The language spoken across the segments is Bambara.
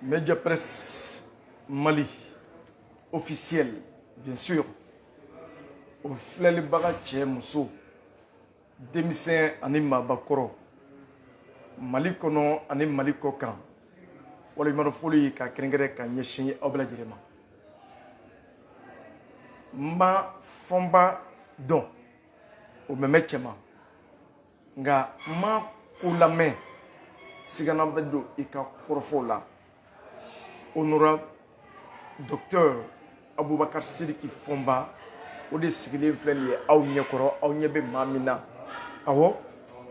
Média Presse Mali officiel bien sûr o filɛlibaga cɛ muso denmisɛn ani maabakɔrɔ mali kɔnɔ ani mali kɔkan waliɲuman foli ka kɛrɛnkɛrɛn ka ɲɛsin aw bɛɛ lajɛlen ma n ma fɔnba dɔn o mɛmɛ cɛma nka n ma ko lamɛn sigana bɛ don i ka kɔrɔfɔ la honorable docteur abubakar sidiki fɔnba o de sigilen filɛ nin ye aw ɲɛ kɔrɔ aw ɲɛ bɛ maa min na awɔ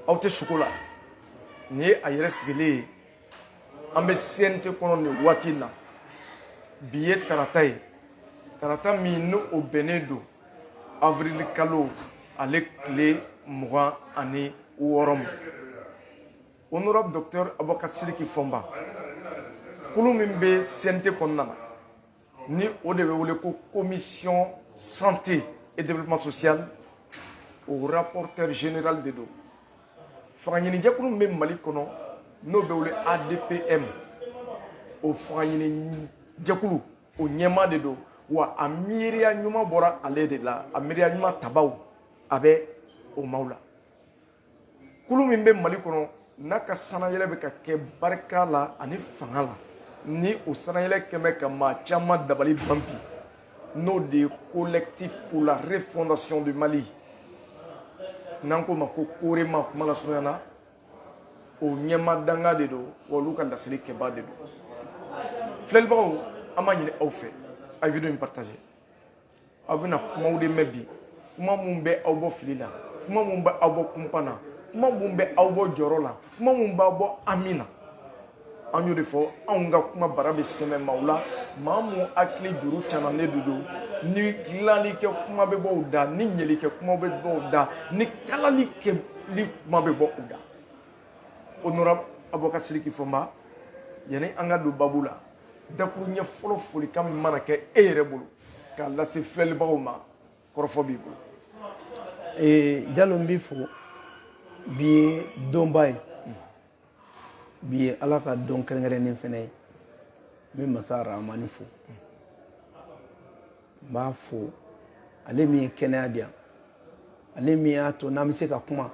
aw tɛ suko la nin ye a yɛrɛ sigilen ye an bɛ CNT kɔnɔ nin waati in na bi ye tarata ye tarata min ni o bɛnnen don avril kalo ale tile mugan ani wɔɔrɔ ma honorable docteur Abubakar Sidiki Fɔnba kulu min bɛ CNT kɔnɔna na ni o de bɛ wele ko commission santé et développement social o rapporteur général de don fangaɲinijɛkulu min bɛ mali kɔnɔ n'o bɛ wele adpm o fangaɲinijɛkulu o ɲɛmaa de don wa a miiriya ɲuman bɔra ale de la a miiriya ɲuman tabaw a bɛ o maaw la kulu min bɛ mali kɔnɔ n'a ka sanayɛlɛ bɛ ka kɛ barika la ani fanga la ni o sanayɛlɛ kɛ bɛ ka maa caman dabali ban bi n'o de ye collectif pour la refondation du mali n'an k'o ma ko corema kuma lasurunya na o ɲɛmaa dankan de don wa olu ka laselikɛbaa de don filɛlibagaw an b'a ɲini aw fɛ a ye video in partage aw bɛna kumaw de mɛn bi kuma minnu bɛ aw bɔ fili la kuma minnu bɛ aw bɔ kunpan na kuma minnu bɛ aw bɔ jɔrɔ la kuma minnu b'aw bɔ hami na an y'o de fɔ anw ka kuma bara bɛ sɛmɛ maaw la maa minnu hakili juru canannen de don ni dilanli kɛ kuma bɛ bɔ u da ni ɲɛli kɛ kuma bɛ bɔ u da ni kalali kɛli kuma bɛ bɔ u da honorable abubakar sidiki fɔnba yanni an ka don babu la dakuruɲɛ fɔlɔ folikan min mana kɛ e yɛrɛ bolo k'a lase filɛlibagaw ma kɔrɔfɔ b'i bolo ee jalo n b'i fo bi ye donba ye bi ye ala ka don kɛrɛnkɛrɛnnen fɛnɛ ye n bɛ masa rahamani fo n b'a fo ale min ye kɛnɛya di yan ale min y'a to n'an bɛ se ka kuma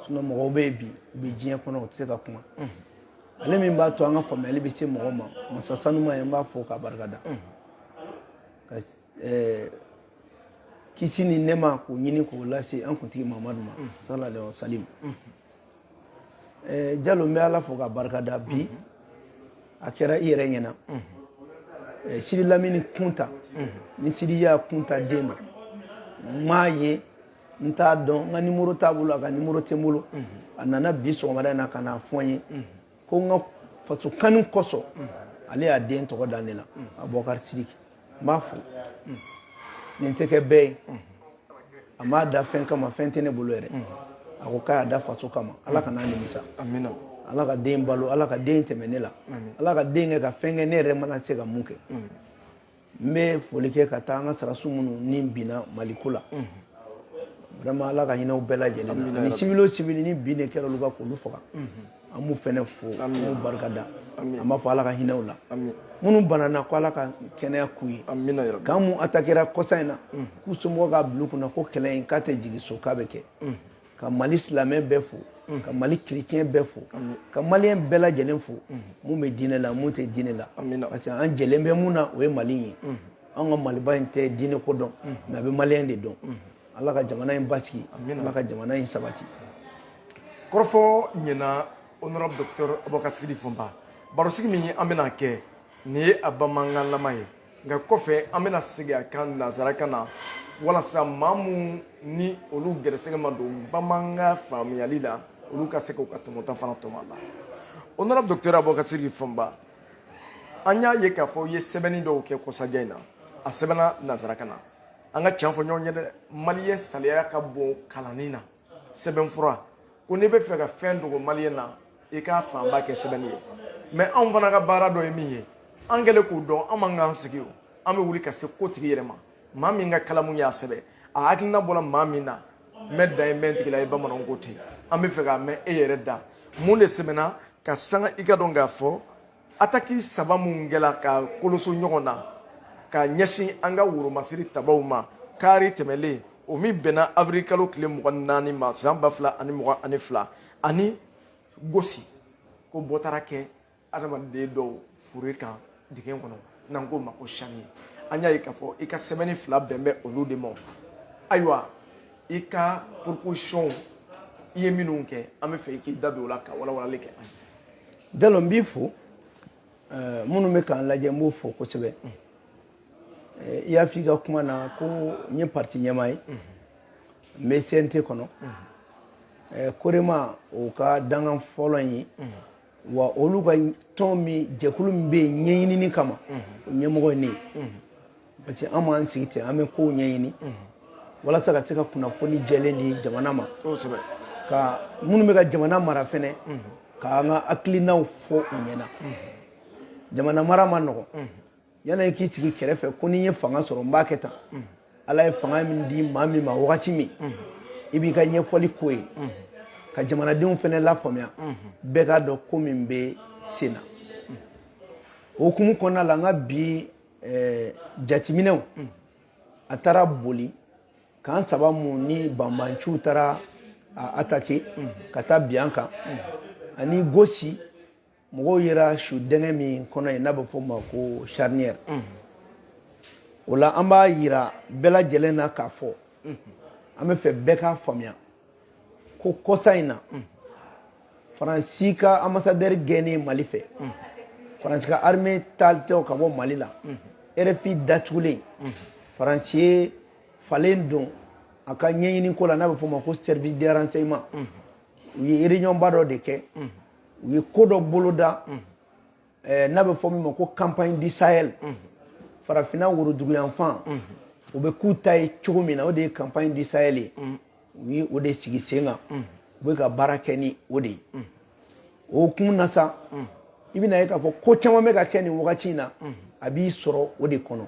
sinɔn mɔgɔw bɛ yen bi u bɛ diɲɛ kɔnɔ u tɛ se ka kuma ale min b'a to an ka faamuyali bɛ se mɔgɔ ma masa sanuma ye n b'a fo k'a barika da ka ɛɛ kisi ni nɛma k'o ɲini k'o lase an kuntigi mamadu ma salalahu alayihi wa salim Eh, jalo n bɛ ala fo k'a barika da bi a kɛra i yɛrɛ ɲɛna eh, sidi lamini kunta ni sidiya kunta den don n m'a ye n t'a dɔn n ka nimoro t'a bolo a ka nimoro tɛ n bolo a nana bi sɔgɔmada in na ka n'a fɔ n ye ko n ka faso kanu kosɔn ale y'a den tɔgɔ da ne la abubakari sidiki n b'a fo nin tɛ kɛ bɛɛ ye a m'a da fɛn kama fɛn tɛ ne bolo yɛrɛ a ko k'a y'a da faso kama ala kan'a nimisa ala ka den balo ala ka den tɛmɛ ne la ala ka den kɛ ka fɛn kɛ ne yɛrɛ mana se ka mun kɛ n bɛ foli kɛ ka taa an ka sarasu minnu ni binna maliko la vraiment ala ka hinɛ u bɛɛ lajɛlen na ani civil o civil ni binni kɛra olu kan k'olu faga an b'u fɛnɛ fo an b'u barika da an b'a fɔ ala ka hinɛ u la minnu banana ko ala ka kɛnɛya k'u ye camp mun atakera kɔsa in na k'u somɔgɔw k'a bila u kunna ko kɛlɛ in k'a tɛ jigi so k'a bɛ kɛ ka mali silamɛ bɛɛ fo mm. ka mali chrétien bɛɛ fo ka maliyɛn bɛɛ lajɛlen fo mm. mun bɛ diinɛ la mun tɛ diinɛ la parce que an jɛlen bɛ mun na o ye mali ye mm. an ka maliba in tɛ diinɛ ko dɔn mais a bɛ maliyɛn de dɔn ala ka jamana in basigi ala ka jamana in sabati kɔrɔfɔ ɲɛna honorable docteur abubakar sidiki fɔnba barosigi min an bɛna kɛ nin ye a bamanankanlama ye nka kɔfɛ an bɛna segin a kan nanzarakan na walasa maa minnu ni olu gɛrɛsɛgɛ ma don bamanankan faamuyali la olu ka se k'u ka tɔmɔta fana tɔmɔ a la honorable docteur abubakar sidiki fɔnba an y'a ye k'a fɔ i ye sɛbɛnni dɔw kɛ kɔsajɛ in na a sɛbɛnna nanzarakan na an ka tiɲɛ fɔ ɲɔgɔn ye dɛ maliyɛn saliya ka bon kalanni na sɛbɛnfura ko n'i b'a fɛ ka fɛn dogo maliyɛn na i k'a fanba kɛ sɛbɛnni ye mais anw fana ka baara dɔ ye min ye an kɛlen k'o dɔn an man k'an sigi o an bɛ wuli ka se kotigi yɛrɛ ma maa min ka kalamu y'a sɛbɛn a hakilina bɔra maa min na mɛn dan ye mɛn tigi la ye bamananw ko ten an b'a fɛ k'a mɛn e yɛrɛ da mun de sɛbɛnna ka sanga i k'a dɔn k'a fɔ ataki saba minnu kɛra ka koloso ɲɔgɔn na ka ɲɛsin an ka woromasiri tabaw ma kari tɛmɛlen o min bɛnna avril kalo tile mugan naani ma san ba fila ani mugan ani fila ani gosi ko bɔ taara kɛ adamaden dɔw fure kan dingɛ kɔnɔ n'an k'o ma ko charnier an y'a ye k'a fɔ i ka sɛbɛnni fila bɛn bɛ olu de ma ayiwa i ka proposition i ye minnu kɛ an b'a fɛ i k'i da don o la ka walawalali kɛ an ye Jalo n b'i fo eh, minnu bɛ k'an lajɛ n b'o fo kosɛbɛ eh, i y'a f'i ka kuma na ko n ye parti ɲɛmaa ye n bɛ CNT kɔnɔ eh, Korema o ka dankan fɔlɔ in ye wa olu ka tɔn min jɛkulu min bɛ yen ɲɛɲinini kama o ɲɛmɔgɔ ye ne ye parce que an m'an sigi ten an bɛ kow ɲɛɲini walasa ka se ka kunnafoni jɛlen di jamana ma ka minnu bɛ ka jamana mara fɛnɛ k'an ka hakilinaw fɔ u ɲɛna jamana mara man nɔgɔn yanni i k'i sigi kɛrɛfɛ ko ni n ye fanga sɔrɔ n b'a kɛ tan ala ye fanga min di maa min ma wagati min i b'i ka ɲɛfɔli k'o ye ka jamanadenw fɛnɛ lafaamuya bɛɛ k'a dɔn ko min bɛ sen na o hukumu kɔnɔna la n ka bi ɛɛ jateminɛw a taara boli kan saba mun ni banbanciw taara a atake ka taa bin an kan ani gosi mɔgɔw yera su dɛngɛ min kɔnɔ yen n'a bɛ fɔ o ma ko charnier o la an b'a yira bɛɛ lajɛlen na k'a fɔ an bɛ fɛ bɛɛ k'a faamuya ko kɔsa in na faransi ka ambassadeur gɛnnen mali fɛ faransi ka armée taalitɔ ka bɔ mali la rfi datugulen faransi ye falen don a ka ɲɛɲini ko la n'a bɛ fɔ o ma ko service de renseignement u ye réunion ba dɔ de kɛ u ye ko dɔ boloda eh, n'a bɛ fɔ min ma ko campagne du sahel mhm. farafinna woroduguyanfan mhm. u bɛ k'u ta ye cogo min na o de ye campagne du sahel ye mhm. u ye o de sigi sen kan u bɛ ka baara kɛ ni o de ye o hukumu na sa i bɛna ye k'a fɔ ko caman bɛ ka kɛ nin wagati in na a bi sɔrɔ o de kɔnɔ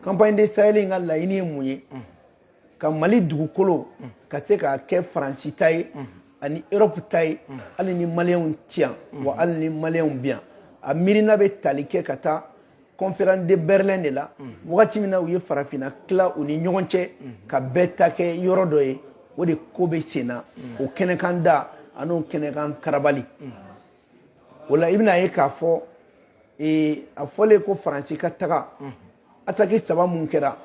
campagne du sahel in ka laɲini ye mun ye ka mali dugukolo ka se k'a kɛ faransi ta ye ani europe ta ye hali ni maliyɛnw ti yan wa hali ni maliyɛnw bi yan a miirina bɛ tali kɛ ka taa conférence de berlin de la wagati min na u ye farafinna tila u ni ɲɔgɔn cɛ ka bɛɛ ta kɛ yɔrɔ dɔ ye o de ko bɛ sen na o kɛnɛkan da ani o kɛnɛkan karabali o la i bɛna ye k'a fɔ ee, a fɔlen ko faransi ka taga ataki saba mun kɛra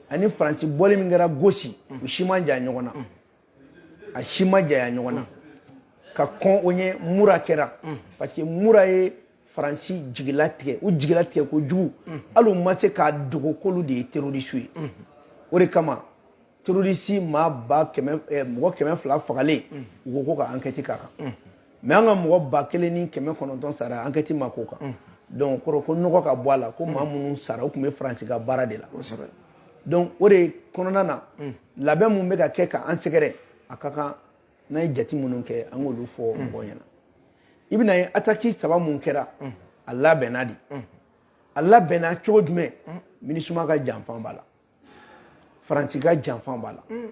ani faransi bɔli min kɛra gosi u si ma janya ɲɔgɔn na a si ma janya ɲɔgɔn na ka kɔn o ɲɛ mura kɛra parce que mura ye faransi jigila tigɛ u jigila tigɛ kojugu hali u ma se k'a dogo k'olu de ye terorisiw ye o de kama terroriste maa ba kɛmɛ eh, mɔgɔ kɛmɛ fila fagalen u ko ko ka enquête k'a kan mais an ka mɔgɔ ba kelen ni kɛmɛ kɔnɔntɔn sara enquête ma k'o kan donc kɔrɔ ko nɔgɔ ka bɔ a la ko maa minnu sara u tun bɛ faransi ka baara de la donc o de kɔnɔna na labɛn min bɛ ka kɛ ka an sɛgɛrɛ a ka kan n'an ye jate minnu kɛ an k'olu fɔ mɔgɔw ɲɛ na i bɛn'a ye ataki saba min kɛra a labɛnna de a labɛnna cogo jumɛn minisuma ka janfan b'a la faransi ka janfan b'a la mm.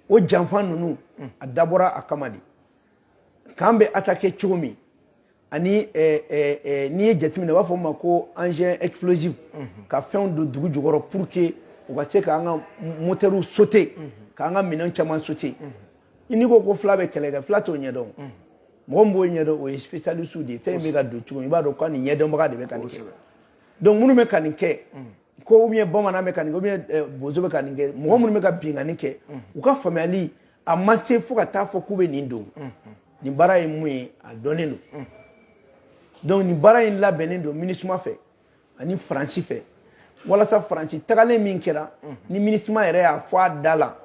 o janfan ninnu mm. a dabɔra a kama de k'an bɛ atake cogo min ani eh, eh, eh, n'i ye jateminɛ u b'a fɔ o ma ko engin explosif mm-hmm. ka fɛnw don dugu jukɔrɔ pour que u ka se k'an ka moteurs sauter mm-hmm. k'an ka minɛn caman sauter mm-hmm. n'i ko ko fila bɛ kɛlɛ kɛ fila t'o ɲɛdɔn mɔgɔ min b'o ɲɛdɔn o ye spécialiste de ye fɛn bɛ ka don cogo min i b'a dɔn ko nin ɲɛdɔnbaga de bɛ ka nin kɛ donc minnu bɛ ka nin kɛ ko ou bien bamanan bɛ ka nin kɛ ou bien eh, bozo bɛ ka nin kɛ mɔgɔ minnu bɛ ka binkanni kɛ u ka faamuyali a ma se fo ka taa fɔ k'u bɛ nin don nin baara ye mun ye a dɔnnen don donc nin baara in labɛnnen don minisuma fɛ ani faransi fɛ walasa faransi tagalen min kɛra ni minisuma yɛrɛ y'a fɔ a da la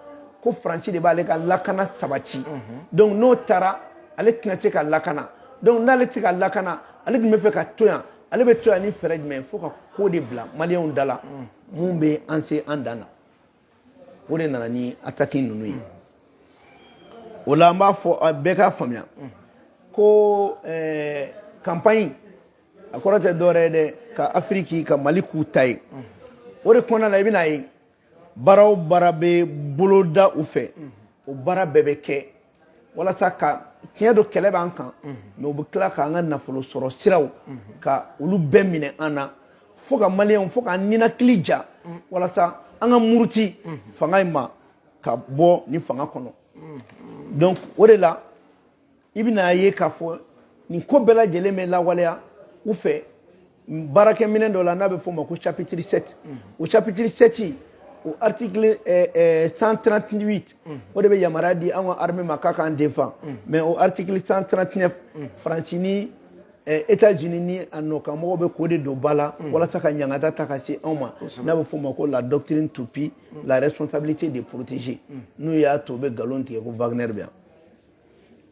ko faransi de b'ale ka lakana sabati donc n'o taara ale tɛna se ka lakana donc n'ale tɛ se ka lakana ale tun bɛ fɛ ka to yan ale bɛ to yan ni fɛɛrɛ jumɛn fo ka ko de bila maliyɛnw da la min bɛ an se an dan na o de nana ni ataki ninnu ye o la an b'a fɔ bɛɛ k'a faamuya ko campagne eh, a kɔrɔ tɛ dɔwɛrɛ ye dɛ ka afiriki ka mali k'u ta ye o de kɔnɔna na i bɛn'a ye baara o baara bɛ boloda u fɛ o baara bɛɛ bɛ kɛ walasa ka tiɲɛ don kɛlɛ b'an kan mais u bɛ tila k'an ka nafolo sɔrɔ siraw ka olu bɛɛ minɛ an na fo ka maliyɛnw fo k'an ninakili ja walasa an ka muruti fanga in ma ka bɔ nin fanga kɔnɔ donc o de la i bɛna a ye k'a fɔ nin ko bɛɛ lajɛlen bɛ lawaleya u fɛ baarakɛminɛn dɔ la n'a bɛ f'o ma ko chapitre 7 o chapitre 7 o article 138 o de bɛ yamaruya di an ka armée ma k'a k'an defan mais o article 139 faransi ni États-Unis ni a nɔkanmɔgɔw bɛ k'o de don ba la walasa ka ɲangata ta ka se anw ma n'a bɛ f'o ma ko la doctrine R2P la responsabilité de protéger n'u y'a to u bɛ nkalon tigɛ ko Wagner bɛ yan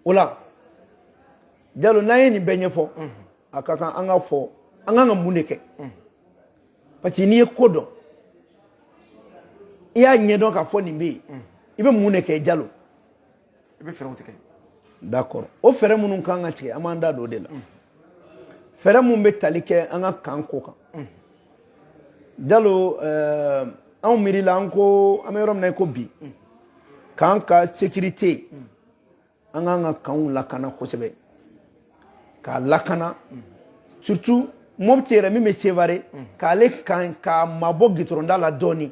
o la jalo n'an ye nin bɛɛ ɲɛfɔ a ka kan an ka fɔ an kan ka mun de kɛ parce que n'i ye ko dɔn i y'a ɲɛdɔn k'a fɔ nin bɛ yen i bɛ mun de kɛ jalo i bɛ fɛɛrɛw tigɛ d'accord o fɛɛrɛ minnu kan ka tigɛ an b'an da don o de la fɛɛrɛ min bɛ tali kɛ an ka kan ko kan jalo eh, anw miiri la an ko an bɛ yɔrɔ min na i ko bi k'an ka sekirite an k'an ka kanw lakana kosɛbɛ k'a lakana surtout mɔpiti yɛrɛ min bɛ sevare k'ale kan k'a mabɔ gitɔrɔn da la dɔɔni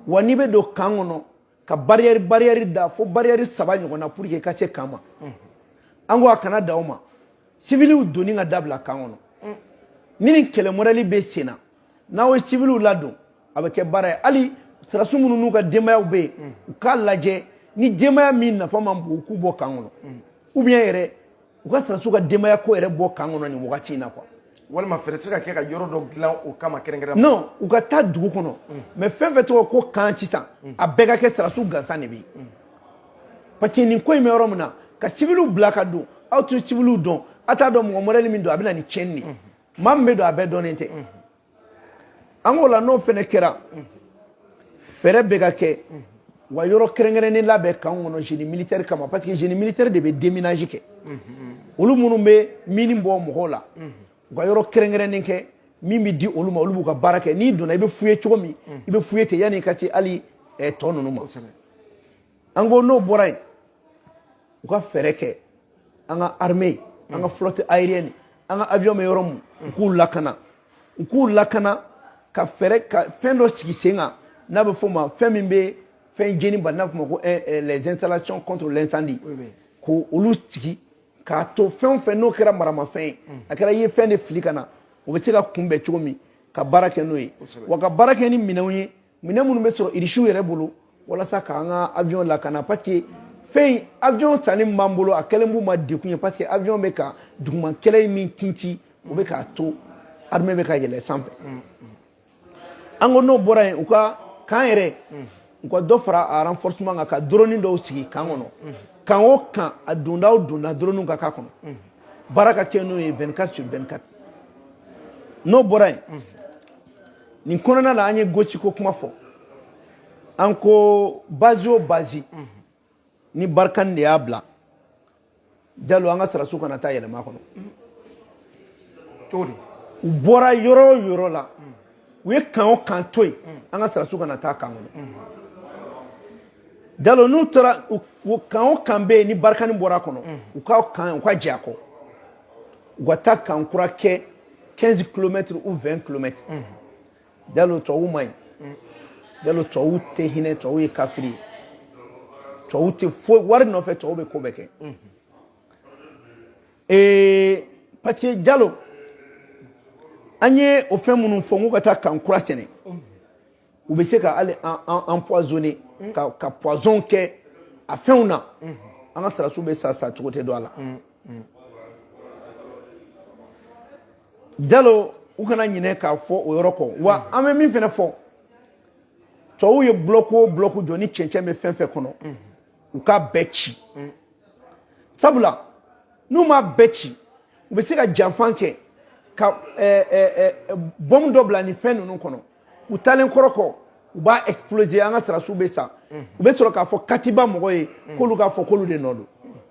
wa n'i bɛ don kan kɔnɔ ka barrière barrière da fo barrière saba ɲɔgɔn na pour que ka se kan ma an ko a kana dan o ma civiliw donni ka dabila kan kɔnɔ ni nin kɛlɛ mɔdɛli bɛ sen na n'aw ye civiliw ladon a bɛ kɛ baara ye hali sarasi minnu n'u ka denbayaw bɛ yen u k'a lajɛ ni denbaya min nafa man bon u k'u bɔ kan kɔnɔ ou bien yɛrɛ u ka sarasiw ka denbaya ko yɛrɛ bɔ kan kɔnɔ nin wagati in na quoi walima fɛɛrɛ tɛ se ka kɛ ka yɔrɔ dɔ dilan o kama kɛrɛnkɛrɛn non u ka taa dugu kɔnɔ mais fɛn fɛn tɔgɔ ko kan sisan a bɛɛ ka kɛ sarasiw gansan de bɛ yen parce que nin ko in bɛ yɔrɔ min na ka civiliw bila ka don aw tɛ civiliw dɔn aw t'a dɔn mɔgɔ mɔdɛli min don a bɛ na ni tiɲɛni de ye maa min bɛ don a bɛɛ dɔnnen tɛ an ko la n'o fana kɛra fɛɛrɛ bɛ ka kɛ u ka yɔrɔ kɛrɛnkɛrɛnnen labɛn kan kɔnɔ génie militaire kama parce que génie militaire de bɛ déminage kɛ olu minnu bɛ mini bɔ mɔgɔw la u ka yɔrɔ kɛrɛnkɛrɛnnen kɛ min bɛ di olu ma olu b'u ka baara kɛ n'i donna i bɛ fouiller cogo min i bɛ fouiller ten yanni i ka se hali tɔ ninnu ma an ko n'o bɔra yen u ka fɛɛrɛ kɛ an ka armée an ka flotte aérienne an ka avion bɛ yɔrɔ min u k'u lakana u k'u lakana ka fɛɛrɛ ka fɛn dɔ sigi sen kan n'a bɛ f'o ma fɛn min bɛ fɛn jeni bali n'a bɛ f'o ma ko eh, eh, les installations contre l'incendie k'olu sigi k'a to fɛn o fɛn n'o kɛra maramafɛn ye a kɛra i ye fɛn de fili ka na o bɛ se ka kunbɛn cogo min ka baara kɛ n'o ye wa ka baara kɛ ni minɛnw ye minɛn minnu bɛ sɔrɔ irisiw yɛrɛ bolo walasa k'an ka avion lakana parce que fɛn in avion sanni min b'an bolo a kɛlen b'u ma dekun ye parce que avion bɛ ka duguma kɛlɛ min kinci o bɛ k'a to armée bɛ ka yɛlɛ sanfɛ an ko n'o bɔra yen u ka kan yɛrɛ u ka dɔ fara a renforcement kan ka drone dɔw sigi kan kɔnɔ kan o kan a donda o donda dronew ka k'a kɔnɔ baara ka kɛ n'o ye 24 sur 24 n'o bɔra yen nin kɔnɔna la an ye gosi ko kuma fɔ an ko bazi o bazi ni barikani de y'a bila jalo an ka sarasu kana taa yɛlɛma a kɔnɔ u bɔra yɔrɔ o yɔrɔ la u ye kan o kan to yen an ka sarasu kana taa kan kɔnɔ jalo n'u taara kan o kan bɛ yen ni barikani bɔra a kɔnɔ u ka kan u ka jɛn a kɔ u ka taa kan kura kɛ 15 kilomɛtiri ou 20 kilomɛtiri jalo tubabu man ɲi jalo tubabu tɛ hinɛ tubabu ye kafiri ye tubabu tɛ foyi wari nɔfɛ tubabu bɛ ko bɛɛ kɛ ee parce que jalo an ye o fɛn minnu fɔ n ko ka taa kan kura sɛnɛ u bɛ se ka hali empoisonner mm. ka ka poison kɛ a fɛnw na mm-hmm. an ka sarasiw bɛ sa sa cogo tɛ dɔn a la mm, mm. jalo u kana ɲinɛ k'a fɔ o yɔrɔ kɔ wa mm. an bɛ min fana fɔ tubabuw ye bloc o bloc jɔ ni cɛncɛn bɛ fɛn fɛn kɔnɔ mm-hmm. u k'a bɛɛ ci mm. sabula n'u m'a bɛɛ ci u bɛ se ka janfa kɛ ka eh, eh, eh, bɔmu dɔ bila nin fɛn ninnu kɔnɔ u taalen kɔrɔ kɔ u b'a exploser an ka sirasiw bɛ sa u bɛ sɔrɔ k'a fɔ katiba mɔgɔ ye k'olu k'a fɔ k'olu de nɔ don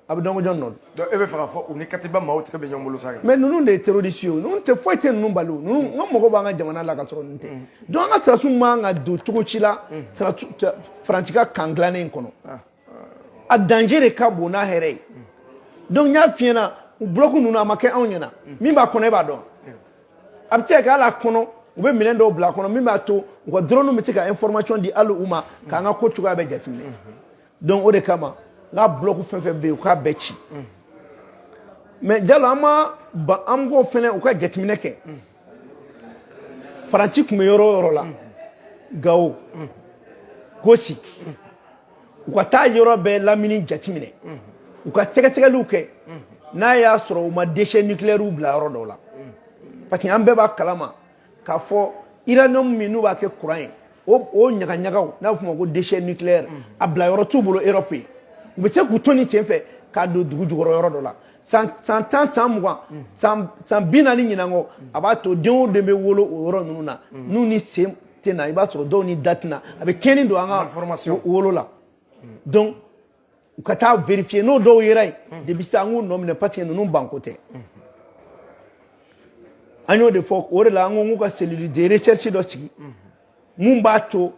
a bɛ dɔn ko jɔn nɔ don. e b'a fɛ k'a fɔ u ni katiba maaw tɛgɛ bɛ ɲɔgɔn bolo sa kɛ. mais ninnu de ye terroriste ye o ninnu tɛ foyi tɛ ninnu bali o ninnu ka mɔgɔw b'an ka jamana la ka sɔrɔ ninnu tɛ donc an ka sirasiw man ka don cogo si la faransi ka kan dilannen in kɔnɔ a danger de ka bon n'a hɛrɛ ye donc n y'a f'i ɲɛna u bloc ninnu a ma kɛ anw ɲɛna min b'a kɔnɔ e b'a dɔn. a bɛ se ka hali a kɔnɔ u bɛ minɛn dɔw bila a kɔnɔ min b'a to u ka drone bɛ se ka information di hali u ma k'an ka ko cogoya bɛɛ jateminɛ donc o de kama n ka bloc fɛn fɛn bɛ yen u k'a bɛɛ ci mais jalo an ma ban an ko fɛnɛ u ka jateminɛ kɛ faransi tun bɛ yɔrɔ o yɔrɔ la gawo gosi u ka taa yɔrɔ bɛɛ lamini jateminɛ u ka sɛgɛsɛgɛliw kɛ n'a y'a sɔrɔ u ma déchets nucléaires bila yɔrɔ dɔw la parce que an bɛɛ b'a kalama k'a fɔ uranium min n'u b'a kɛ courant ye o ɲagaɲagaw n'a bɛ f'o ma ko déchets nucléaires a bila yɔrɔ t'u bolo Europe yen u bɛ se k'u to nin sen fɛ k'a don dugu jukɔrɔ yɔrɔ dɔ la san tan san mugan san bi naani ɲinan kɔ a b'a to den o den bɛ wolo o yɔrɔ ninnu na n'u ni sen tɛ na i b'a sɔrɔ dɔw ni da tɛ na a bɛ tiɲɛni don an ka Malformation. wolo la donc u ka taa vérifier n'o dɔw yera yen depuis sisan an k'u nɔ minɛ parce que ninnu banko tɛ an y'o de fɔ o de la an ko k'u ka cellule de recherche dɔ sigi mun b'a to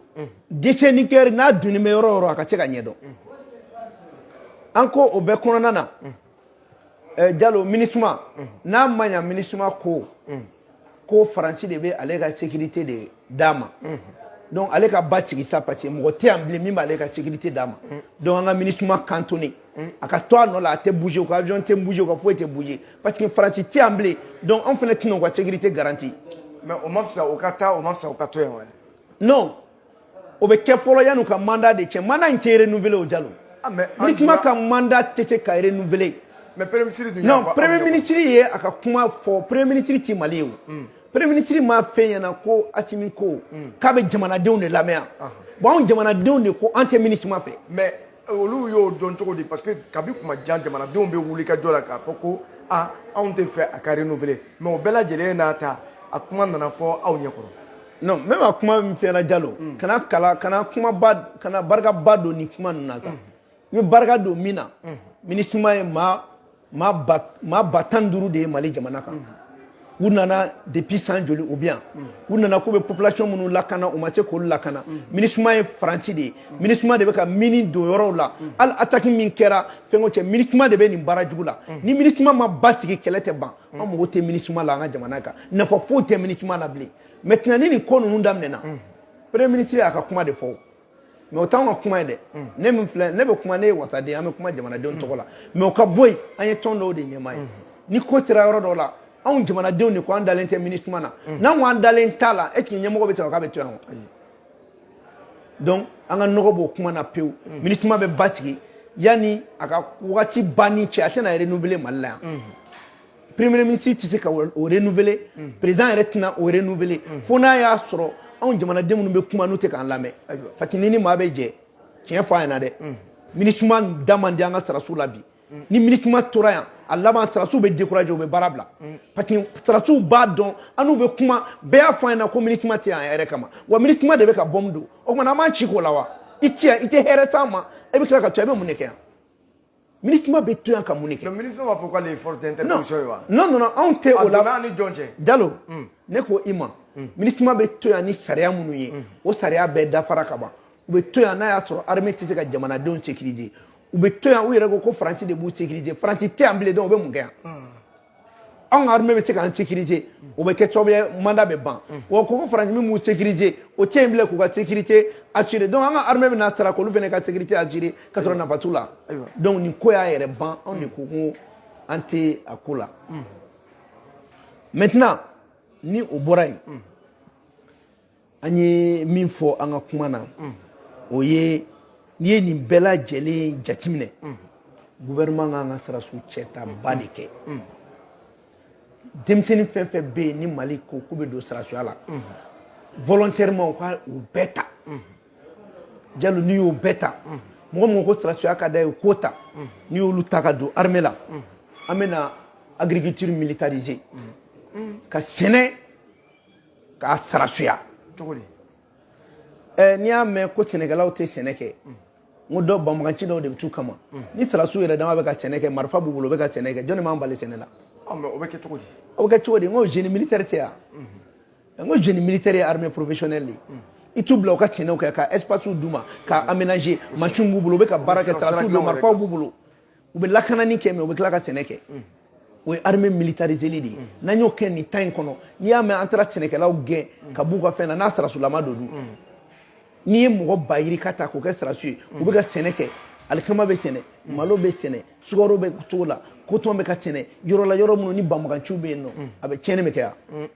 déchet nucléaire n'a donnen bɛ yɔrɔ o yɔrɔ a ka se ka ɲɛdɔn an ko o bɛɛ kɔnɔna na Jalo MINUSMA n'a ma ɲɛ MINUSMA ko faransi de bɛ ale ka sécurité de d'a ma donc ale ka ba sigi sa parce que mɔgɔ tɛ yan bilen min b'ale ka sécurité d'a ma donc an ka MINUSMA cantonner a ka to a nɔ la a tɛ bouger u ka avion tɛ bouger u ka foyi tɛ bouger parce que faransi tɛ yan bilen donc anw fana tɛna u ka sécurité garantir mais o ma fisa u ka taa o ma fisa u ka to yan o bɛ kɛ fɔlɔ yanni u ka mandat de cɛ mandat in tɛ renouveler o jalo ah, minisuma ka mandat tɛ se ka renouveler mais premier ministre dun non premier ministre ye a ka kuma fɔ premier ministre ti mali ye o hmm. premier ministre m'a f'an ɲɛna ko asimi ko hmm. k'a bɛ jamanadenw de lamɛn ah. bon anw jamanadenw de ko an tɛ minisuma fɛ mais euh, olu y'o dɔn cogo di parce que kabi tuma jan jamanadenw bɛ wuli ka jɔ la k'a fɔ ko ah anw tɛ fɛ a ka renouveler mais o bɛɛ lajɛlen n'a ta a kuma nana fɔ aw ɲɛ kɔrɔ non n bɛ ka kuma min fɛnɛ jalo mm. kana kala kana kumaba kana barikaba don nin kuma ninnu na sa i bɛ barika don min na mm. minisuma ye maa maa ba maa ba tan ni duuru de ye mali jamana kan mm. u nana depuis san joli u bɛ yan u nana k'u bɛ population minnu lakana u ma se k'olu lakana minisuma ye faransi de ye minisuma de bɛ ka mini don yɔrɔw la hali ataki min kɛra fɛnko cɛ minisuma de bɛ nin baara jugu la ni minisuma ma basigi kɛlɛ tɛ ban an mago tɛ minisuma la an ka jamana kan nafa foyi tɛ minisuma la bilen maintenant ni nin ko ninnu daminɛna premier ministre y'a ka kuma de fɔ mais o t'anw ka kuma ye dɛ ne min filɛ ne bɛ kuma ne ye wasaden an bɛ kuma jamanadenw tɔgɔ la mais o ka bɔ yen an ye tɔn dɔw de ɲɛmaa ye ni ko sera yɔrɔ dɔw la anw jamanadenw de ko an dalen tɛ minisuma na n'an ko an dalen t'a la est ce que ɲɛmɔgɔ bɛ sɔrɔ k'a bɛ to yan wa donc an ka nɔgɔ b'o kuma na pewu minisuma bɛ basigi yanni a ka wagati banni cɛ a tɛna renouveler mali la yan premier ministre tɛ se ka o renouveler hmm. président yɛrɛ tɛna o renouveler hmm. fo n'a y'a sɔrɔ anw jamanaden minnu bɛ kuma n'u tɛ k'an lamɛn parce que ni maa bɛ jɛ tiɲɛ fɔ a ɲɛna dɛ hmm. minisuma da man di an ka sarasiw la bi ni minisuma tora yan a laban sarasiw bɛ décourager u bɛ baara bila parce que sarasiw b'a dɔn an n'u bɛ kuma bɛɛ y'a fɔ an ɲɛna ko minisuma tɛ yan an yɛrɛ kama wa minisuma de bɛ ka bɔmu don o tuma na an b'an ci k'o la wa i tɛ yan i tɛ hɛrɛ s'an ma e bɛ tila ka to i bɛ mun de kɛ yan Minisma bɛ to yan ka mun de kɛ minisma b'a fɔ k'ale ye force d'interposition ye wa non anw tɛ o la a donna an ni jɔn cɛ jalo ne ko i ma minisma bɛ to yan ni sariya minnu ye o sariya bɛɛ dafara ka ban u bɛ to yan n'a y'a sɔrɔ armée tɛ se ka jamanadenw sécuriser u bɛ to yan u yɛrɛ ko ko faransi de b'u sécuriser faransi tɛ yan bilen donc u bɛ mun kɛ yan anw ka armée bɛ se k'an sécuriser o bɛ kɛ sababu ye mandat bɛ ban wa ko ko faransi min b'u sécuriser o tɛ yen bilen k'u ka sécurité assurer donc an ka armée bɛna sara k'olu fana ka sécurité assurer ka sɔrɔ nafa t'u la donc nin ko y'a yɛrɛ ban anw de ko ko an tɛ a ko la maintenant ni o bɔra yen an ye min fɔ an ka kuma na o ye n'i ye nin bɛɛ lajɛlen jateminɛ gouvernement kan ka sarasu cɛtaba de kɛ denmisɛnnin fɛn o fɛn bɛ yen ni mali ko k'u bɛ don sarasuya la volontairement u ka u bɛɛ ta jalo n'i y'o bɛɛ ta mɔgɔ o mɔgɔ ko sarasuya ka d'a ye k'o ta n'i y'olu ta ka don armée la an bɛna agriculture militariser ka sɛnɛ k'a sarasuya cogo di ɛ n'i y'a mɛn ko sɛnɛkɛlaw tɛ sɛnɛ kɛ n ko dɔw banbaganci dɔw de bɛ t'u kama ni sarasiw yɛrɛ dama bɛ ka sɛnɛ kɛ marifa b'u bolo u bɛ ka sɛnɛ kɛ jɔnni b'an bali sɛnɛ la o bɛ kɛ cogo di o bɛ kɛ cogo di n ko génie militaire tɛ yan n ko génie militaire ye armée professionnelle de ye i t'u bila u ka sɛnɛ kɛ ka espace d'u ma ka aménager machine b'u bolo u bɛ ka baara kɛ sarasiw don marifaw b'u bolo u bɛ lakanani kɛ mais u bɛ tila ka sɛnɛ kɛ o ye armée militariseli de ye n'an y'o kɛ nin temps in kɔnɔ n'i y'a mɛn an taara sɛnɛkɛlaw gɛn ka b'u ka fɛn na n'a sarasulama don dun n'i ye mɔgɔ ba yirika ta k'o kɛ sarasu ye u bɛ ka sɛnɛ kɛ alikama bɛ sɛnɛ malo bɛ sɛnɛ sukaro bɛ cogo la coton bɛ ka sɛnɛ yɔrɔ la yɔrɔ minnu ni banbaganciw bɛ yen nɔ a bɛ tiɲɛni bɛ kɛ yan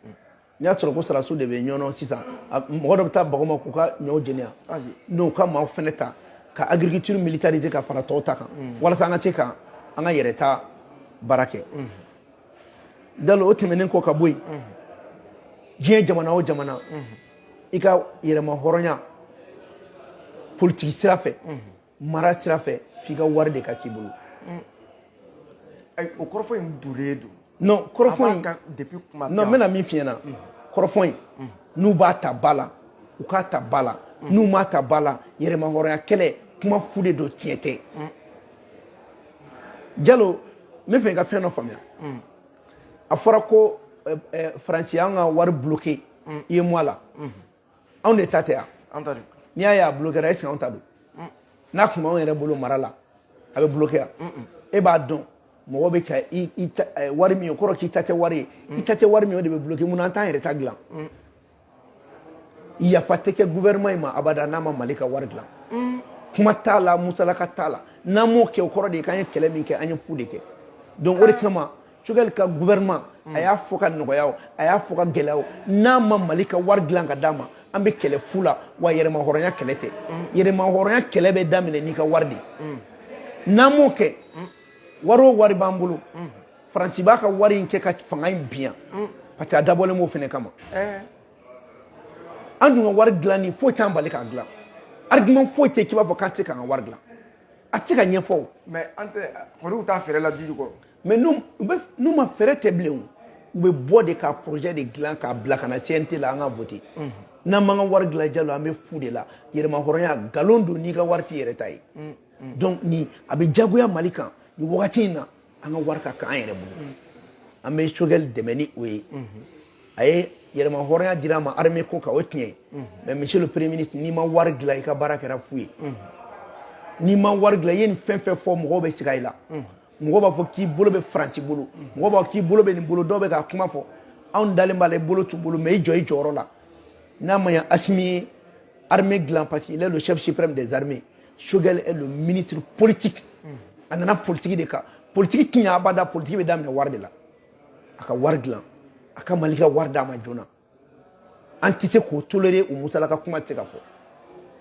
n'i y'a sɔrɔ ko sarasu de bɛ ɲɔnɔ sisan mɔgɔ dɔ bɛ taa bag'u ma k'u ka ɲɔw jeni yan u ka maaw fɛnɛ ta ka agriculture militariser ka fara tɔw ta kan walasa an ka se ka an ka yɛrɛ ta baara kɛ jalo o tɛmɛnen kɔ ka bɔ yen diɲɛ jamana o jamana i ka yɛrɛmahɔrɔnya politiki sira fɛ mara sira fɛ f'i ka wari de ka k'i bolo o kɔrɔfɔ in dulen don non kɔrɔfɔ in depuis kuma non n bɛna min f'i ɲɛna kɔrɔfɔ in n'u b'a ta ba la u k'a ta ba la n'u m'a ta ba la yɛrɛmahɔrɔnya kɛlɛ kuma fu de don tiɲɛ tɛ jalo n b'a fɛ i ka fɛn dɔ faamuya a fɔra ko faransi y'an ka wari bloqué UEMOA la anw de ta tɛ yan an ta don n'i y'a ye a bulokera est ce que anw ta don n'a tun b'anw yɛrɛ bolo mara la a bɛ buloke yan e b'a dɔn mɔgɔ bɛ ka i i ta eh, wari min ye o kɔrɔ k'i ta tɛ wari ye i ta tɛ wari min ye o de bɛ buloke mun na an t'an yɛrɛ ta dilan yafa tɛ kɛ gouvernement in ma abada n'a ma mali ka wari dilan kuma t'a la musalaka t'a la n'an m'o kɛ o kɔrɔ de ye k'an ye kɛlɛ min kɛ an ye fu de kɛ donc o de kama Choguel ka gouvernement a y'a fɔ ka nɔgɔya o, a y'a fɔ ka gɛlɛya o, n'a ma Mali ka wari dilan ka d'a ma, an bɛ kɛlɛ fu la wa yɛrɛmahɔrɔnya kɛlɛ tɛ. Yɛrɛmahɔrɔnya kɛlɛ bɛ daminɛ n'i ka wari de ye. N'an m'o kɛ, wari o wari b'an bolo, Faransi b'a ka wari in kɛ ka fanga in bin yan parce que a dabɔlen b'o fana kama. An dun ka wari dilanni foyi t'an bali k'a dilan. Argument foyi tɛ yen k'i b'a fɔ k'an tɛ se k'an ka wari dilan. A tɛ se ka ɲɛfɔ o. Mais an tɛ, kɔri u t'a fɛɛrɛ la dugu jukɔrɔ? mais n'u ma fɛɛrɛ tigɛ bilen u bɛ bɔ de ka projet de dilan k'a bila ka na cnt la an ka voter n'an m'an ka wari dilan jalo an bɛ fu de la yɛrɛmahɔrɔnya nkalon don n'i ka wari t'i yɛrɛ ta ye donc ni a bɛ jagoya mali kan nin wagati in na an ka wari ka k'an yɛrɛ bolo an bɛ Choguel dɛmɛ ni o ye a ye yɛrɛmahɔrɔnya di an ma armée ko kan o tiɲɛ mais monsieur le premier ministre n'i ma wari dilan i ka baara kɛra fu ye n'i ma wari dilan i ye nin fɛn fɛn fɔ mɔgɔw bɛ siga i la mɔgɔ b'a fɔ k'i bolo bɛ faransi bolo mɔgɔ b'a fɔ k'i bolo bɛ nin bolo dɔw bɛ k'a kuma fɔ anw dalen b'a la i bolo t'u bolo mais i jɔ i jɔyɔrɔ la n'a ma ɲa Assimi ye armée dilan parce qu'il est le chef suprême des armées Choguel est le ministre politique a nana politiki de kan politiki ti ɲɛ abada politiki bɛ daminɛ wari de la a ka wari dilan a ka mali ka wari d'a ma joona an tɛ se k'o tolérer o musalaka kuma tɛ se ka fɔ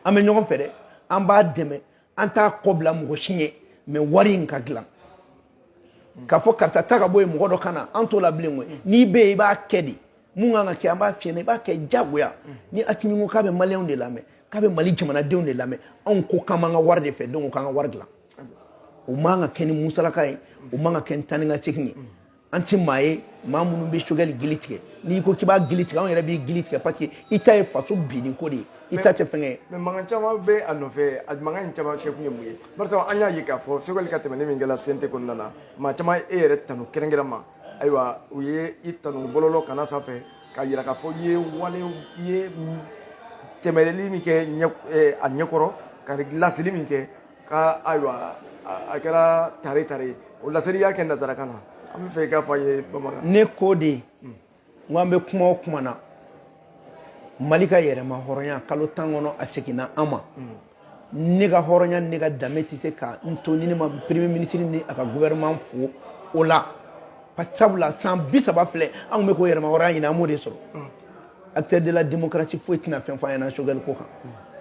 an bɛ ɲɔgɔn fɛ dɛ an b'a dɛmɛ an t'a kɔ bila mɔgɔ si ɲɛ mais wari in ka dilan k'a fɔ karisa ta ka bɔ yen mɔgɔ dɔ ka na an t'o la bilen koyi n'i bɛ yen i b'a kɛ de mun kan ka kɛ an b'a f'i ye i b'a kɛ jagoya ni Assimi ko k'a bɛ maliyɛnw de lamɛn k'a bɛ mali jamanadenw de lamɛn anw ko k'an b'an ka wari de fɛ donc k'an ka wari dilan o man ka kɛ ni musalaka ye o man ka kɛ ni taa ni ka segin ye an ti maa ye maa minnu bɛ Choguel gili tigɛ n'i ko k'i b'a gili tigɛ anw yɛrɛ b'i gili tigɛ parce que i ta ye faso binni ko de ye i ta tɛ fɛngɛ ye. mais mankan caman bɛ a nɔfɛ a mankan in caman kɛ kun ye mun ye barisa an y'a ye k'a fɔ Choguel ka tɛmɛni min kɛra CNT kɔnɔna na maa caman e yɛrɛ tanu kɛrɛnkɛrɛn ma ayiwa u ye i tanu bɔlɔlɔ kan na sanfɛ k'a yira k'a fɔ i ye wale i ye tɛmɛli min kɛ a ɲɛkɔrɔ ka laseli min kɛ ka ayiwa a kɛra tare tare ye o laseli y'a kɛ nazarakan na an bɛ fɛ i k'a fɔ an ye bamanankan ne ko de n ko an bɛ kuma o kuma na mali ka yɛrɛma hɔrɔnya kalo tan kɔnɔ a seginna an ma ne ka hɔrɔnya ne ka danbe tɛ se ka n to ni ne ma premier ministre ni a ka gouvernement fo o la sabula san bi saba filɛ an tun bɛ k'o yɛrɛma hɔrɔnya ɲini an m'o de sɔrɔ acteur de la démocratie foyi tɛna fɛn fɔ an ɲɛna Choguel ko kan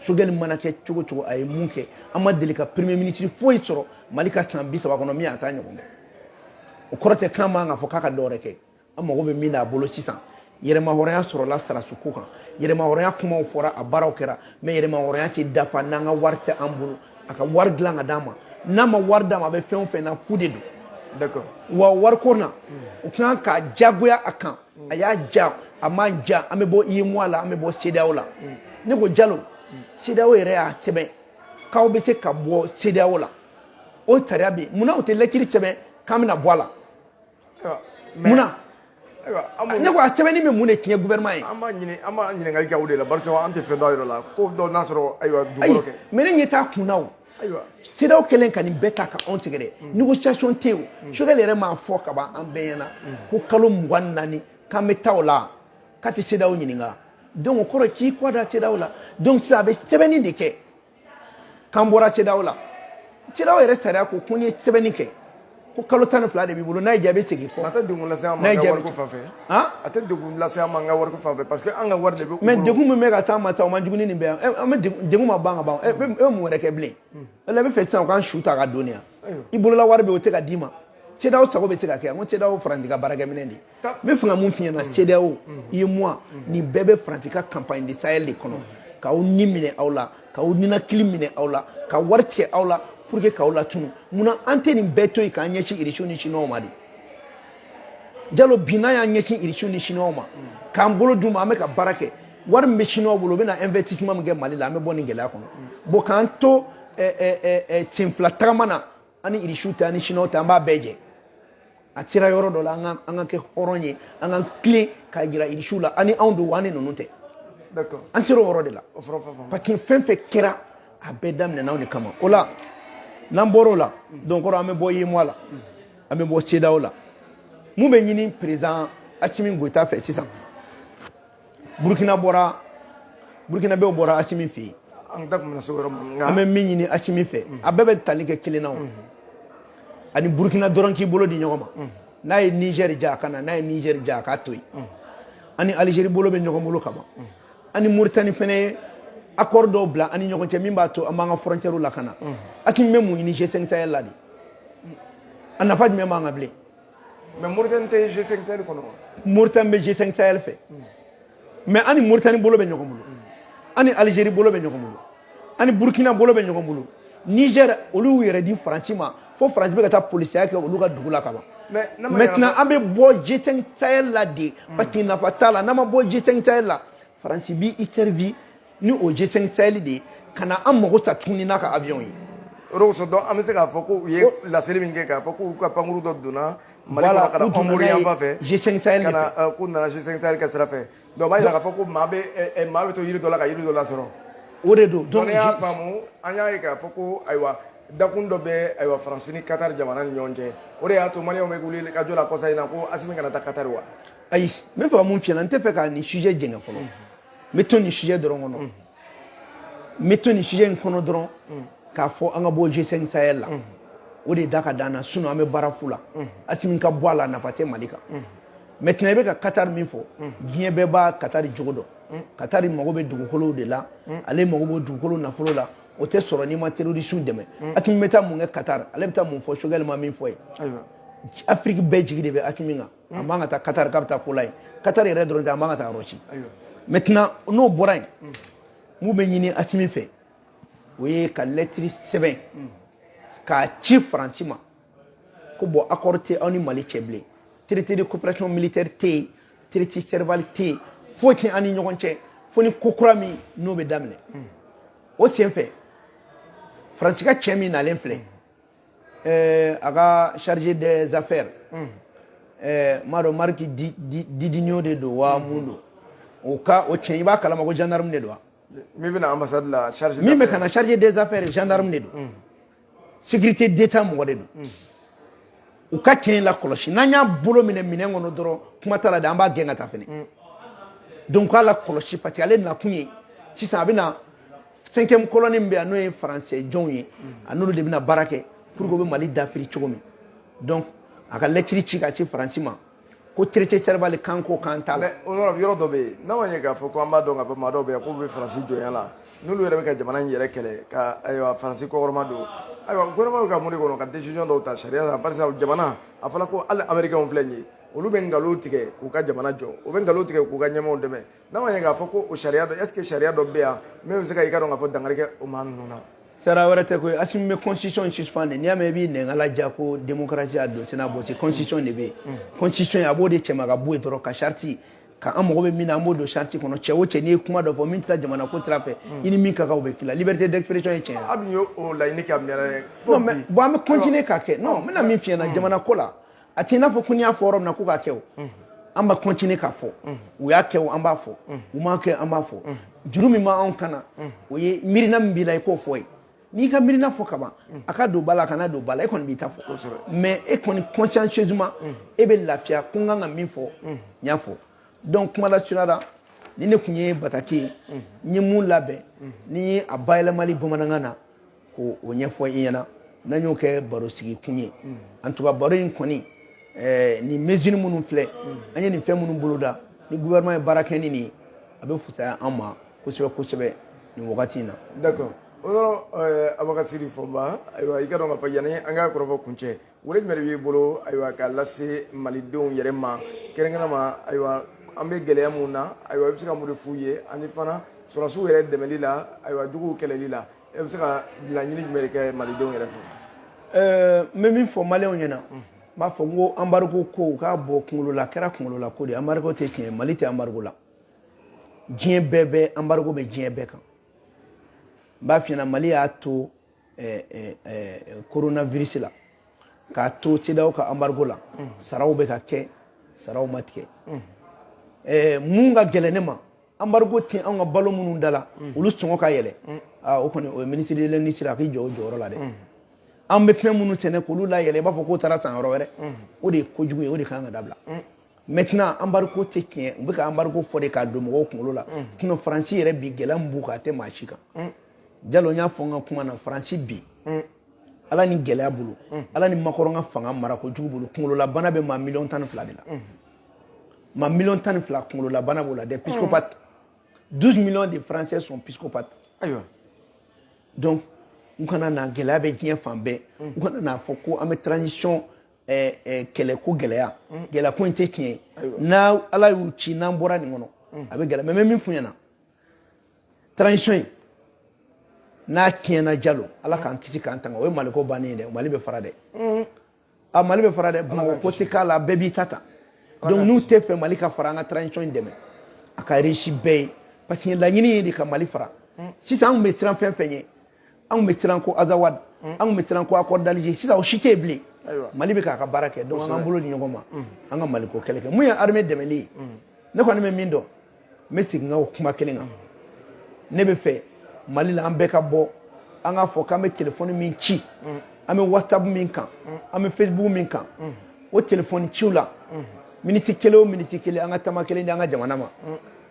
Choguel mana kɛ cogo o cogo a ye mun kɛ an ma deli ka premier ministre foyi sɔrɔ mali ka san bi saba kɔnɔ min y'a ta ɲɔgɔn kɛ o kɔrɔ tɛ k'an man kan k'a fɔ k'a ka dɔwɛrɛ kɛ an mago bɛ min na a bolo sisan yɛrɛmahɔrɔnya sɔrɔla sɔrɔdasiko kan yɛrɛmahɔrɔnya kumaw fɔra a baaraw kɛra mais yɛrɛmahɔrɔnya tɛ dafa n'an ka wari tɛ an bolo a ka wari dilan ka d'a ma n'a ma wari d'a ma a bɛ fɛn o fɛn na fu de don wa wariko na o kan ka jagoya a kan a y'a ja a ma ja an bɛ bɔ UEMOA la an bɛ bɔ CEDEAO la ne ko jalo CEDEAO yɛrɛ y'a sɛbɛn k'aw bɛ se ka bɔ CEDEAO la o sariya bɛ yen munna u tɛ lɛtiri sɛbɛn k'an bɛna bɔ a la munna ne ko a sɛbɛnni bɛ mun de tiɲɛ gouvernement ye an b'a ɲini an b'a ɲininkali kɛ o de la barisa an tɛ fɛn dɔn a yɔrɔ la ko dɔ n'a sɔrɔ ayiwa dugukolo kɛ mais ne ɲɛ t'a kun na o ayiwa CEDEAO kɛlen ka nin bɛɛ ta ka anw sɛgɛrɛ mm. négociation tɛ yen mm. Choguel yɛrɛ m'a fɔ ka ban an bɛɛ ɲɛna mm. ko kalo mugan naani k'an bɛ taa o la k'a tɛ CEDEAO ɲininka donc o kɔrɔ k'i kɔ da CEDEAO la donc sisan a bɛ sɛbɛnni de kɛ k'an bɔra CEDEAO la CEDEAO yɛrɛ sariya ko ko n'i ye sɛbɛnni kɛ ko kalo tan ni fila de b'i bolo n'a y'i diya i bɛ segin kɔ. a tɛ degun lase an ma an ka wariko fan fɛ. a tɛ degun lase an ma an ka wariko fan fɛ parce que an ka wari de bɛ. mais degun min bɛ ka taa ma ta o man jugu ni nin bɛɛ ye an bɛ degun ma ban ka ban e bɛ mun wɛrɛ kɛ bilen. o la i bɛ fɛ sisan u k'an su ta ka don yan. i bolola wari bɛ o tɛ ka d'i ma. CEDEAO sago bɛ se ka kɛ n ko CEDEAO ye Faransi ka baarakɛminɛn de ye. n bɛ fɛ ka mun f'i ɲɛna CEDEAO UEMOA nin bɛɛ bɛ Faransi ka campagne de Sahel de kɔnɔ k'aw ni minɛ aw la k'aw ninakili minɛ aw la ka wari tigɛ aw la pour que k'aw latunu munna an tɛ nin bɛɛ to yen k'an ɲɛsin irisiw ni siniwaw ma de Jalo bi n'an y'an ɲɛsin irisiw ni siniwaw ma k'an bolo d'u ma an bɛ ka baara kɛ wari min bɛ siniwaw bolo u bɛna investissement min kɛ Mali la an bɛ bɔ nin gɛlɛya kɔnɔ bon k'an to senfila tagama na an ni irisiw tɛ an ni siniwaw tɛ an b'a bɛɛ jɛ a sera yɔrɔ dɔ la an ka an ka kɛ hɔrɔn ye an ka tilen k'a jira irisiw la an ni aw don wa an ni ninnu tɛ an sera o yɔrɔ de la parce que fɛn fɛn kɛra a bɛɛ daminɛna anw de kama o la n'an bɔra o la donc kɔrɔ an bɛ bɔ UEMOA la an bɛ bɔ CEDEAO la mun bɛ ɲini président asimi goyita fɛ sisan burukina bɔra burukinabɛw bɔra asimi fɛ yen an da tun se yɔrɔ ma an bɛ min ɲini asimi fɛ a bɛɛ bɛ tali kɛ kelen na o an ni burukina dɔrɔn k'i bolo di ɲɔgɔn ma n'a ye nizɛri diya a ka na n'a ye nizɛri diya a k'a to yen an ni alizeri bolo bɛ ɲɔgɔn bolo ka ban an ni muritani fana ye accord dɔw bila an ni ɲɔgɔn cɛ min b'a to an b'an ka frontière lakana asimi bɛ mun ɲini G5 Sahel la de a nafa jumɛn b'an kan bilen mais moritani tɛ g5 sahel kɔnɔ moritani bɛ g5 sahel fɛ mais an ni moritani bolo bɛ ɲɔgɔn bolo an ni algérie bolo bɛ ɲɔgɔn bolo an ni burkina bolo bɛ ɲɔgɔn bolo niger olu y'u yɛrɛ di faransi ma fo faransi bɛ ka taa polisiya kɛ olu ka dugu la ka ban maintenant an bɛ bɔ g5 sahel la de parce que nafa t'a la n'an ma bɔ g5 sahel la faransi b'i servi ni o G5 Sahel de ye ka na an mago sa tuguni n'a ka avion ye o de kosɔn donc an bɛ se k'a fɔ ko u ye laseli min kɛ k'a fɔ k'u ka pankuru dɔ donna mali kɔnɔ ka na pankuru yanfan fɛ G5 Sahel ka na euh, k'u nana G5 Sahel ka sira fɛ donc o b'a jira k'a fɔ ko maa bɛ euh, euh, maa bɛ to yiri dɔ la ka yiri dɔ lasɔrɔ o de don donc ne y'a faamu an y'a ye k'a fɔ ko ayiwa dakun dɔ bɛ ayiwa faransi ni katari jamana ni ɲɔgɔn cɛ o de y'a to maliyɛnw bɛ wulikajɔ la kɔsa in na ko asimi kana taa katari wa ayi n bɛ fɛ ka mun f'i ye n tɛ fɛ ka nin sujet jɛngɛ fɔlɔ n bɛ to nin sujet dɔrɔn kɔnɔ n bɛ to nin sujet in kɔnɔ dɔrɔn k'a fɔ an ka bɔ G5 Sahel la o de da ka d'an na sinon an bɛ baara fu la Asimi ka bɔ a la nafa tɛ Mali kan maintenant i bɛ ka Qatar min fɔ diɲɛ bɛɛ bɛ Qatar jogo dɔn Qatar mago bɛ dugukolow de la ale mago b'o dugukolo nafolo la o tɛ sɔrɔ n'i ma terroriste dɛmɛ Asimi bɛ taa mun kɛ Qatar ale bɛ taa mun fɔ Choguel ma min fɔ ye Afrique bɛɛ jigi de bɛ Asimi kan a man ka taa katari k'a bɛ taa ko la yen katari yɛrɛ dɔrɔn tɛ a man ka taa yɔrɔ si maintenant n'o bɔra yen mun bɛ ɲini asimi fɛ o ye ka lɛtiri sɛbɛn k'a ci faransi ma ko bon accord tɛ aw ni mali cɛ bilen traité de coopération militaire tɛ yen traité serval tɛ yen foyi tɛ an ni ɲɔgɔn cɛ fo ni ko kura min n'o bɛ daminɛ o senfɛ faransi ka cɛ min nalen filɛ ɛɛ a ka chargé des affaires ɛɛ m'a dɔn mariki didinio de don wa mun don o cɛ i b'a kalama ko gendarme de don wa min bɛna ambassade la chargé min bɛ ka na chargé des affaires gendarme de don mm. sécurité d'état mɔgɔ de don mm. u ka cɛ in lakɔlɔsi n'an y'a bolo minɛ minɛn kɔnɔ dɔrɔn kuma t'a la dɛ an b'a gɛn ka taa fɛnɛ mm. donc k'a lakɔlɔsi parce que ale nakun ye sisan a bɛna cinquième colonne min bɛ yan n'o ye français jɔnw ye a n'olu de bɛna baara kɛ pour que u bɛ mali dafiri cogo min donc a ka lɛtiri ci ka ci faransi ma ko traité serval kan ko kan t'a la o yɔrɔ yɔrɔ dɔ bɛ yen n'a ma ɲɛ k'a fɔ ko an b'a dɔn k'a fɔ maa dɔw bɛ yan k'u bɛ faransi jɔnya la n'olu yɛrɛ bɛ ka jamana in yɛrɛ kɛlɛ ka ayiwa faransi kɔkɔrɔmadon ayiwa gouvernement bɛ ka mun de kɔnɔ ka décision dɔw ta sariya la barisa jamana a fɔra ko hali américainw filɛ nin ye olu bɛ nkalon tigɛ k'u ka jamana jɔ u bɛ nkalon tigɛ k'u ka ɲɛmaaw dɛmɛ N'a ma ɲɛ k'a fɔ ko o sariya dɔ est ce que sariya dɔ bɛ yan min bɛ se ka i ka dɔn k'a fɔ dankari kɛ o maa ninnu na. sariya wɛrɛ tɛ koyi Assimi bɛ constitution suspend de n'i y'a mɛn i b'i nɛgala ja ko démocratie y'a don sen'a bɔsi constitution de bɛ yen mm. constitution a b'o de cɛma ka bɔ yen dɔrɔn ka charte ka an mago bɛ min na an b'o don charte kɔnɔ cɛ o cɛ n'i ye kuma dɔ fɔ min tɛ jamana ko sira fɛ mm. i ni min ka kan o bɛ k'i la liberté d'expression ye tiɲɛ ye. a dun y'o laɲini kɛ a mɛnna dɛ. non mais bon an bɛ continuer k'a kɛ non n bɛna min f'i ɲɛna mm. jamana ko la. a t'i n'a fɔ ko n'i y'a fɔ yɔrɔ min na ko k'a kɛ o an b'a continuer k'a fɔ u y'a kɛ o an b'a fɔ u m'a kɛ an b'a fɔ juru min b'anw kan na o ye miirina min b'i la i k'o fɔ ye n'i ka miirina fɔ kaban a ka don ba la a kana don ba la e kɔni b'i ta fɔ mais e kɔni consciencieusement e bɛ lafiya ko n kan ka min fɔ n y'a fɔ donc kuma lasurunya la nin de tun ye bataki ye n ye min labɛn ni ye a bayɛlɛmali bamanankan na k'o ɲɛfɔ i ɲɛna n'an y'o kɛ baro sigi kun ye mm. en tout cas baro in kɔni eh, nin mesure minnu filɛ mm. an ye nin fɛn minnu boloda ni gouvernement ye baara kɛ ni nin ye a bɛ fusaya an ma kosɛbɛ kosɛbɛ nin wagati in na d'accord o yɔrɔ eh, abubakar sidiki fɔnba ayiwa i ka dɔn k'a fɔ yanni an ka kɔrɔfɔ kuncɛ wele jumɛn de b'i bolo ayiwa k'a lase malidenw yɛrɛ ma kɛrɛnkɛrɛnma ayiwa an bɛ gɛlɛya min na ayiwa i bɛ se ka mun de f'u ye ani fana sɔrɔdasiw yɛrɛ dɛmɛli la ayiwa juguw kɛlɛli la e bɛ se ka laɲini jumɛn de kɛ malidenw yɛrɛ fɛ ɛɛ n bɛ min fɔ maliyɛnw ɲɛna n b'a fɔ n ko embargo ko u k'a bɔ kunkolo la a kɛra kunkolo la ko de embargo tɛ tiɲɛ mali tɛ embargo la diɲɛ bɛɛ bɛ embargo bɛ diɲɛ bɛɛ kan n b'a f'i ɲɛna mali y'a to coronavirus la k'a to cedeao ka embargo la saraw bɛ ka kɛ saraw ma tigɛ mun ka gɛlɛn ne ma embargo tɛ an ka balo minnu da la mm. olu sɔngɔ ka yɛlɛ mm. ah, o kɔni o ye ministre de l'industrie a k'i jɔ o jɔyɔrɔ la dɛ mm. an bɛ fɛn minnu sɛnɛ k'olu layɛlɛ i b'a fɔ k'o taara san yɔrɔ wɛrɛ o de ye kojugu ye o de kan ka dabila maintenant embargo tɛ tiɲɛ u bɛ ka embargo fɔ de k'a don mɔgɔw kunkolo la sinon faransi yɛrɛ bi gɛlɛya min b'u kan a tɛ maa si kan jalo n y'a fɔ n ka kuma na faransi bi ala ni gɛlɛya bolo ala ni macron ka fanga mara ko jugu bolo kunkololabana bɛ maa miliyɔn tan ni fila de la maa million tan ni fila kunkololabana b'o la des psychopathes 12 millions de français sont psychopathes ayiwa donc u kana na gɛlɛya bɛ diɲɛ fan bɛɛ u kana n'a fɔ ko an bɛ transition eh, eh, kɛlɛ ko gɛlɛya gɛlɛya ko in tɛ tiɲɛ ye n'a ala y'u ci n'an bɔra nin kɔnɔ a bɛ gɛlɛya mais n bɛ min f'u ɲɛna transition in n'a tiɲɛna jalo ala k'an kisi k'an tanga o ye maliko bannen ye dɛ mali bɛ fara dɛ a mali bɛ fara dɛ bamakɔ ko tɛ k'a la bɛɛ b'i ta ta donc n'u tɛ fɛ mali ka fara an ka transition in dɛmɛ a ka réussi bɛɛ ye parce que laɲini ye de ka mali fara hmm. sisan an tun bɛ siran fɛn fɛn ye an tun bɛ siran ko azawad hmm. an tun bɛ siran ko accord d'alger sisan o si tɛ yen bilen mali bɛ k'a ka baara kɛ donc an k'an bolo di ɲɔgɔn ma hmm. an ka maliko kɛlɛ kɛ mun ye armée dɛmɛli ye ne kɔni bɛ min dɔn n bɛ segin n ka o kuma kelen kan ne bɛ fɛ mali la an bɛɛ ka bɔ an k'a fɔ k'an bɛ telefɔni min ci an bɛ whatsapp min kan an bɛ facebook min kan o telefɔni ciw la miniti kelen o miniti kelen an ka tama kelen di an ka jamana ma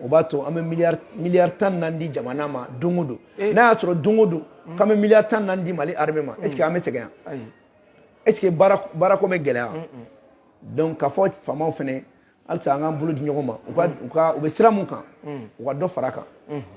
o b'a to an bɛ miliyari miliyari tan naani di jamana ma don o don eh. n'a y'a sɔrɔ don o don mm. k'an bɛ miliyari tan naani di mali armée ma mm. est-ce que an bɛ sɛgɛn yan est-ce que baara baarako bɛ gɛlɛya donc k'a fɔ faamaw fɛnɛ halisa an k'an bolo di ɲɔgɔn ma u ka u bɛ sira mun kan u ka dɔ fara a kan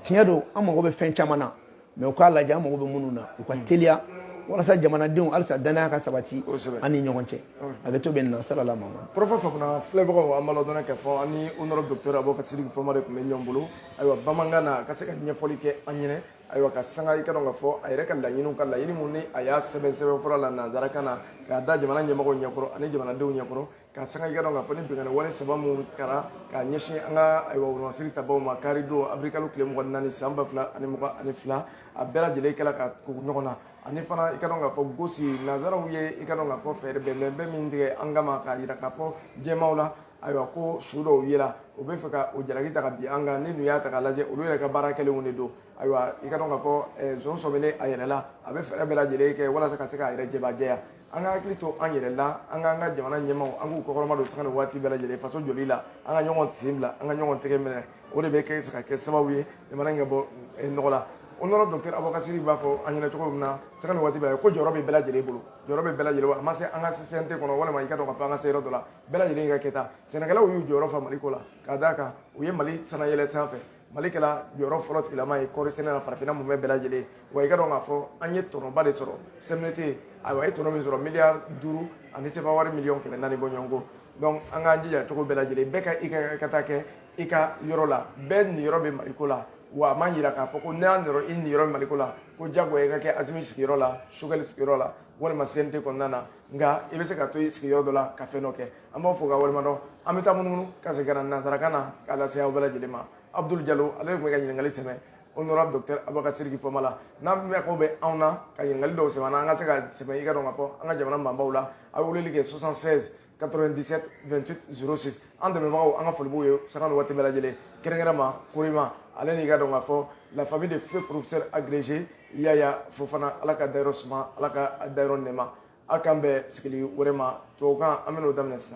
tiɲɛ don an mago bɛ fɛn caman na mais u k'a lajɛ an mago bɛ minnu na u ka teliya walasa jamanadenw halisa danaya ka sabati an ni ɲɔgɔn cɛ hakɛto bɛ nin na salala ma porofa fana filɛbagaw an b'a ladɔn k'a fɔ an ni honorable docteur abubakar sidiki fɔnba de tun bɛ ɲɔgɔn bolo ayiwa bamanankan na a ka se ka ɲɛfɔli kɛ an ɲɛna ayiwa ka sanga i ka dɔn k'a fɔ a yɛrɛ ka laɲiniw ka laɲini minnu ni a y'a sɛbɛn sɛbɛn fɔlɔ la nansarakan na k'a da jamana ɲɛmɔgɔ ɲɛkɔrɔ ani jamanadenw ɲɛkɔrɔ ka sanga i ka dɔn k'a fɔ ni binkanni wale saba minnu kɛra ka ɲɛsin an ka ayiwa siri tabaw ma karidon awirilikalo tile mugan ni naani san ba fila ani mugan ni fila a bɛɛ lajɛlen kɛra ka tugu ɲɔgɔn na ani fana i ka dɔn k'a fɔ gosi nansaraw ye i ka dɔn k'a fɔ fɛɛrɛ bɛnbɛn bɛɛ min tigɛ an kama k'a jira k'a fɔ diɲɛmaaw la ayiwa ko su dɔw yela u b'a fɛ ka o jalaki ta ka bin an kan n'i dun y'a ta ka lajɛ olu yɛrɛ ka baara kɛlenw de don ayiwa i ka dɔn k'a fɔ zon sɔminen a yɛrɛ la a bɛ fɛɛrɛ bɛɛ lajɛlen kɛ walasa ka se k'a yɛrɛ jɛbajɛya an ka hakili to an yɛrɛ la an k'an ka jamana ɲɛmaaw an k'u kɔkɔrɔmadon sanga ni waati bɛɛ lajɛlen faso jɔli la an ka ɲɔgɔn sen bila an ka ɲɔgɔn tɛgɛ minɛ o de bɛ kɛ se ka kɛ sababu ye jamana in ka bɔ eh, nɔgɔ la honorable docteur abubakar siriki b'a fɔ an ɲɛna cogo min na sanga ni waati bɛɛ ko jɔyɔrɔ bɛ bɛɛ lajɛlen bolo jɔyɔrɔ bɛ bɛɛ lajɛlen a ma se an ka se cnt kɔnɔ walima i ka dɔn k'a fɔ an ka se yɔrɔ dɔ la bɛɛ lajɛlen ka kɛta sɛnɛkɛlaw y'u jɔyɔrɔ fa mali ko la k'a d'a kan u ye mali sanayɛlɛ sanfɛ mali kɛla jɔyɔrɔ fɔlɔ tigilama ye kɔɔri sɛnɛ na farafinna mumɛ bɛɛ lajɛlen wa i ka dɔn k'a fɔ an ye tɔnɔba de sɔrɔ cmdt ayiwa a ye tɔnɔ min sɔrɔ miliyari duuru ani sefa wari miliyɔn kɛmɛ naani bɔɲɔgɔnko donc an k'an jija cogo bɛɛ lajɛlen bɛɛ k'i ka kɛta kɛ i ka yɔrɔ la bɛɛ niyɔrɔ bɛ maliko la wa a ma jira k'a fɔ ko n'a nɔrɔ i niyɔrɔ bɛ maliko la ko jagoya i ka kɛ asimi sigiyɔrɔ la choguel sigiyɔrɔ la walima cnt kɔnɔna na nka i bɛ se ka to i sigiyɔrɔ dɔ la ka fɛn dɔ kɛ an b'aw fo k'aw waleɲumandɔn an bɛ taa munumunu ka segin ka na nansarakan na k'a lase aw bɛɛ lajɛlen ma abudul jalo ale de tun bɛ ka ɲininkali sɛmɛ honorable docteur abubakar siriki fɔnba la n'aw mako bɛ anw na ka ɲininkali dɔw sɛmɛ an ka se k'a sɛmɛ i ka dɔn k'a fɔ an ka jamana maabaw la aw bɛ weleli kɛ 76 97 28 06 an dɛmɛbagaw an ka foli b'u ye sanga ni waati bɛɛ lajɛlen kɛrɛnkɛrɛnma korima ale n'i ka dɔn k'a fɔ la famille de feu professeur agrégé yaya fofana ala k'a dayɔrɔ suma ala k'a dayɔrɔ nɛɛma aw k'an bɛn sigili wɛrɛ ma tubabukan an bɛn'o daminɛ sisan